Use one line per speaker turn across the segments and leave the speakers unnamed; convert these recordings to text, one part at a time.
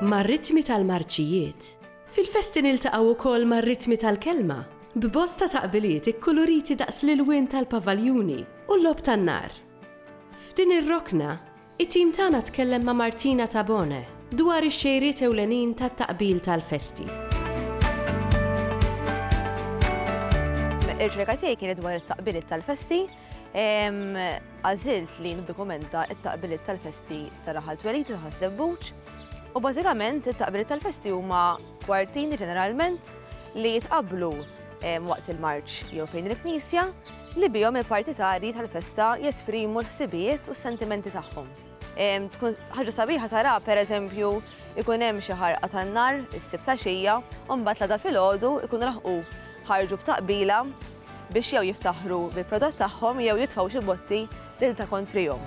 Mar-ritmi tal-marċijiet, fil-festi niltaqgħu wkoll mar-ritmi tal-kelma, b'bosta taqbiliet ikkuluriti daqs l-ilwien tal-pavaljuni u l-logħob tan-nar. F'din ir-rokna, It-tim tagħna tkellem ma' Martina Tabone dwar ix-xejriet ewlenin tat-taqbil tal-festi.
Ir-riċerka tiegħi kienet dwar it-taqbiliet tal-festi. Għażilt li niddokumenta t-taqbiliet tal-festi ta' Raħal Twelid ta' Ħaż-Żebbuġ. U bażikament it-taqbiliet tal-festi huma kwartini ġeneralment li jitqabblu waqt il-marċ jew fejn il-knisja. li bihom il-partitarji tal-festa jesprimu l-ħsibijiet u s-sentimenti tagħhom. Tkun ħaġa sabiħa tara pereżempju ikun hemm xi ħarqa tan-nar is-sibt għaxija u mbagħad l-għada filgħodu ikun laħqu ħarġu b'taqbila biex jew jiftaħru bil-prodott tagħhom jew jitfgħu xi botti lil ta' kontrihom.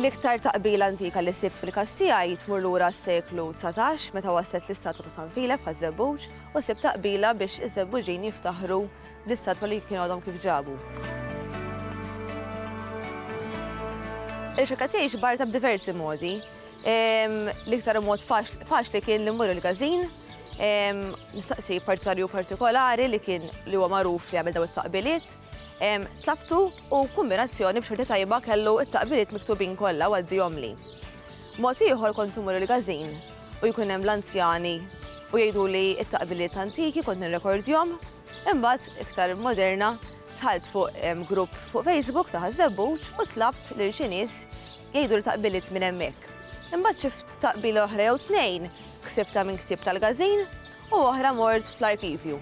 L-iktar taqbila antika li sibt fil-kas tiegħi tmur lura s-seklu 19 meta waslet l-istatwa ta' San Filep ħaż-Żebbuġ u ssib taqbila biex iż-Żebbuġin jiftaħru bl-istatwa li kienu għadhom kif ġabu. Il-xirka tiegħi xbarta b'diversi modi. L-iktar mod faċli kien li mmur il-gazin, nistaqsi partitarju partikolari li kien li huwa magħruf li għamil daw it-taqbiliet. Tlabtu u kombinazzjoni b'xorti tajba kellu it-taqbiliet miktubin kollha għaddihom li. Mod ieħor kont immur il-każin u jkun hemm l-anzjani u jgħiduli t-taqbiliet antiki kont nirrekordjhom. Imbagħad, iktar moderna, dħalt fuq grupp fuq Facebook ta' Ħaż-Żebbuġ u tlabt lil xi nies jgħiduli taqbiliet minn hemmhekk. Imbagħad xi taqbila oħra jew tnejn ksibtha minn ktieb tal-każin u oħra mort fl-arkivju.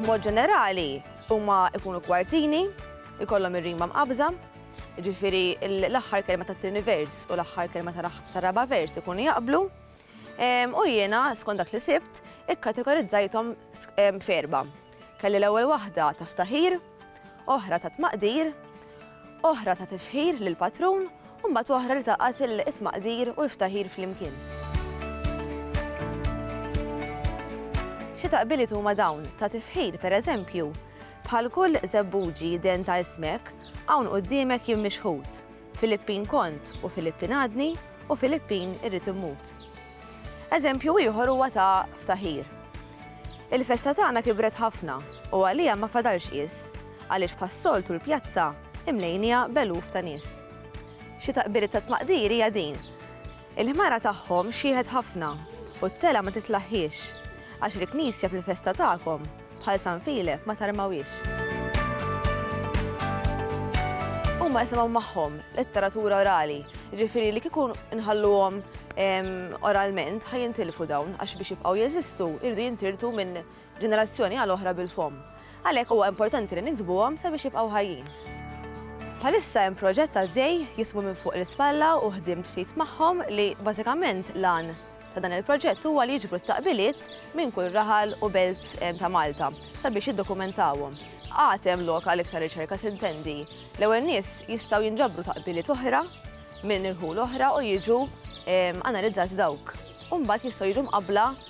B'mod ġenerali huma jkunu kwartini. ikollhom ir-rima mqabbża, jiġifieri l-aħħar kelma tat-tieni vers u l-aħħar kelma tar-raba' vers ikunu jaqblu. U jiena, skont dak li sibt, ikkategorizzajthom f'erba'. Kelli l-ewwel waħda ta' ftaħir, oħra ta' tmaqdir, oħra ta' tifħir lill-patrun u mbagħad oħra li taqgħet it-tmaqdir u l-ftaħir flimkien. Xi taqbiliet huma dawn ta' tifħir, pereżempju, Bħal kull żebbuġi den ta' ismek, hawn quddiemek jien mixħut. Filippin kont u Filippin għadni u Filippin irrid immut. Eżempju ieħor huwa ta' ftaħir. Il-festa tagħna kibret ħafna u għaliha ma fadalx qies għaliex bħas-soltu l-pjazza imlejniha b'eluf ta' nies. Xi taqbiriet ta' tmaqdir hija din. Il-ħmara tagħhom xieħet ħafna, u t-telgħa ma titlaħħiex, għax il-knisja fil-festa tagħkom, bħal San Filep, ma tarmawhiex. Huma jisimgħu magħhom letteratura orali, jiġifieri li kieku nħalluhom oralment ħa jintilfu dawn għax biex jibqgħu jeżistu jridu jintirtu minn ġenerazzjoni għal oħra bil-fomm. Għalhekk huwa importanti li niktbuhom sabiex jibqgħu ħajjin. Bħalissa hemm proġett għaddej jismu minn fuq l-ispalla u ħdimt ftit magħhom li bażikament lan ta' dan il-proġett huwa li jiġbru t-taqbiliet minn kull raħal u belt eh, ta' Malta sabiex jiddokumentawhom għatem loka l iktar riċerka sintendi. L-ewel nis jistaw jinġabru taqbiliet oħra minn irħul oħra u jiġu ehm, analizzati dawk. Umbat jistaw jiġu mqabla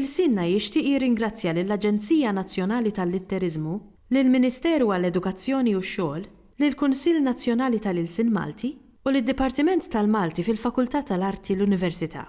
Il-SINNA jixtieq jirringrazzja lill-Aġenzija Nazzjonali tal-Litteriżmu, lill-Ministeru għall-Edukazzjoni u x-Xogħol, lill-Kunsill Nazzjonali tal-Ilsien Malti u lid-Dipartiment tal-Malti fil-Fakultà tal-Arti l-Università.